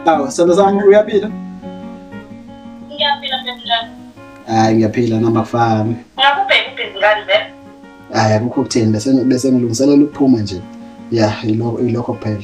Awu, sendo sami uyaphila? Ngiyaphila Bethlehem. Hayi ngiyaphila noma kufami. Ngakubheka ubhizi ngani vele? Hayi akukho ukuthini bese bese ngilungiselela ukuphuma nje. Yeah, ilokho ilokho kuphela.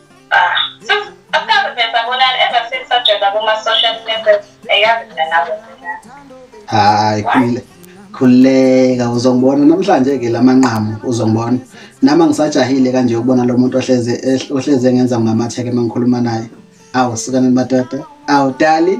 hayi khulile khuleka uzongibona namhlanje ke lamanqamu uzongibona nama ngisajahile kanje ukubona lo muntu ohleze ohleze ngenza ngamatheke mangikhuluma naye awu sikaneni madoda awu dali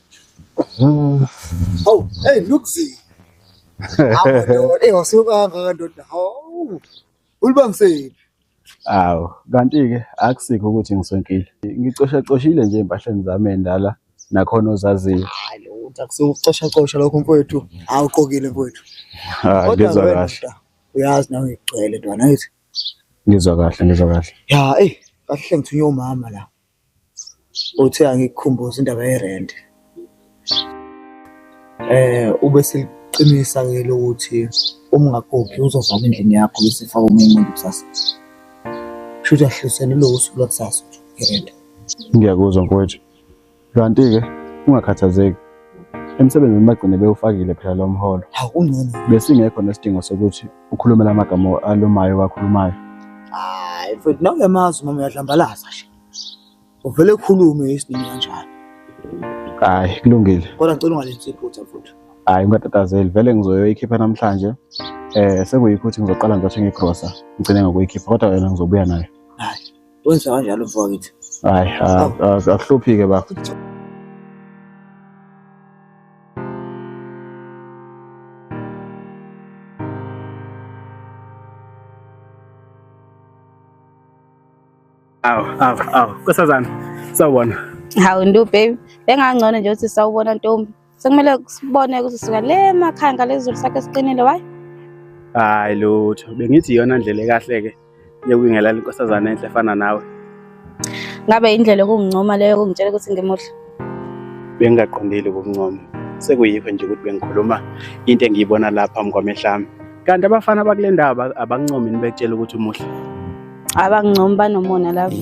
Oh, hey, look see. Amadoda, eh wasukanga kandoda. Hawu. Ulibangiseni. Awu, kanti-ke akusikho ukuthi ngisonkile. Ngicoshacoshile nje empahleni zami endala nakhona ozaziyo. Hayi lutho akusukucoshacosha lokho mfowethu. Awuqokile mfowethu. Ah, Kodwa ngizwa wena kahle. ndoda, Uyazi nawe ngigcwele ntwana ngithi. Ngizwa kahle, ngizwa kahle. Ya, eh, kahle ngithunywe umama la. Uthe angikukhumbuza indaba ye-rent. Eh, ube seliqinisa ke lokuthi uma ungakhokhi uzovama endlini yakho bese faka omunye umuntu kusasa. Shuthi ahlisele lowo usuku lwakusasa i-rent. Ngiyakuzwa mfowethu. Kanti-ke ungakhathazeki. Emsebenzini bagcine bewufakile phela lo mholo. Hawu kungcono. Besingekho nesidingo sokuthi ukhulume la magama alumayo wakhulumayo hayi mfethu nawe uyamazi mama uyadlambalaza nje uvele ukhulume isinini kanjalo hayi kulungile kodwa ngicela ungalenzi iphutha mfethu hayi ungatatazeli vele ngizoyoyikhipha namhlanje eh sekuyikho ukuthi ngizoqala ngizothenga igrosa ngigcine ngokuyikhipha kodwa wena ngizobuya nayo hayi Wenza kanjalo mfowethu. Hayi, akuhluphike bafo. Awu, awu, awu. Kusazana. Sawubona. Hawu ndu baby. Bengangcono nje ukuthi sawubona ntombi. sekumele sibone ukuthi sisuka le makhaya ngalezulu sakhe siqinile wayi hayi lutho bengithi iyona ndlela ekahle-ke yokwingelala inkosazana enhle efana nawe ngabe indlela yokungincoma leyo yokungitshela ukuthi ngimuhle bengingaqondile ukuncoma sekuyikho nje ukuthi bengikhuluma into engiyibona lapha phambi kwamehlami kanti abafana bakule ndawo abancomi nibetshela ukuthi umuhle abancomi banomona lapho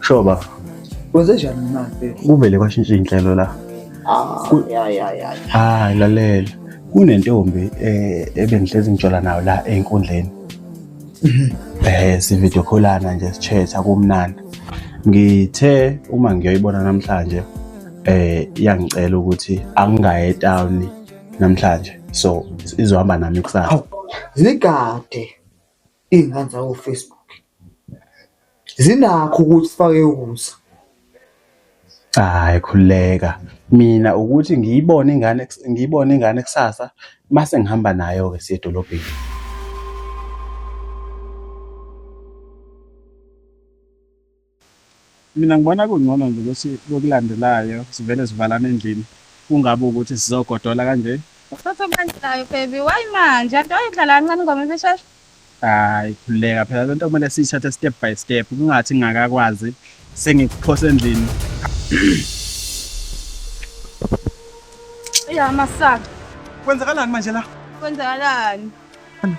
Sure baba. Kwenze njani na mfethu? Kuvele kwashintsha inhlelo la. Ah, Ku- ya ya ya. Hayi lalela. Kunentombi eh ebengihlezi ngitshola nayo la enkundleni. Eh sivideo callana nje sichatha kumnandi. Ngithe uma ngiyoyibona namhlanje eh iyangicela ukuthi angingaye etown namhlanje. So izohamba nami kusasa. Awu, Zigade. iy'ngane zako Facebook zinakho ukuthi sifake ukusa hayi khuleka mina ukuthi ngiyibone ingane ngiyibone ingane kusasa mase ngihamba nayo ke siye edolobheni Mina ngibona kungcono nje ukuthi kokulandelayo sivele sivalane endlini kungabe ukuthi sizogodola kanje. Uphethwe kulandelayo baby why manje anti wayidlala kancane ingoma ibishesha. Hayi khuleka phela lento kumele siyithathe step by step kungathi ngingakakwazi sengikuphose endlini. Iya masaka. Kwenzakalani manje la? Kwenzakalani?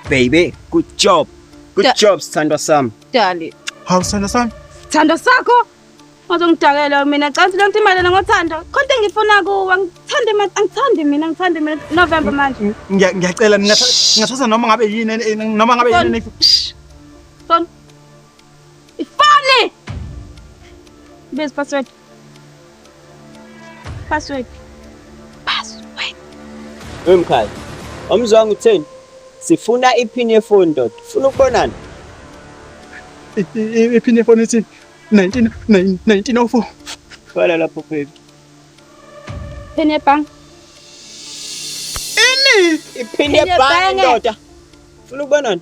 Baby, good job. Good Da- job, sithandwa sami. Dali. Hawu sithando sami. Thando sakho. Uzongidakela mina cansi lento imali lena ngothando. Konke engifuna kuwe angithandi mina angithandi mina angithandi mina November manje. Ngiya- Ngiyacela mina ngathatha noma ngabe yini en- en- noma ngabe yini. en- Son. Ifani. Base password. Password. Password. Wemkhaya. Omzwanga utheni? Sifuna ipin yefoni ndoda. Ufuna ukubonana? Ipin yefoni ithi 19 1904. Bhala lapho baby. Pin yebhange. Ini? Ipin yebhange ndoda. Ufuna ukubonana?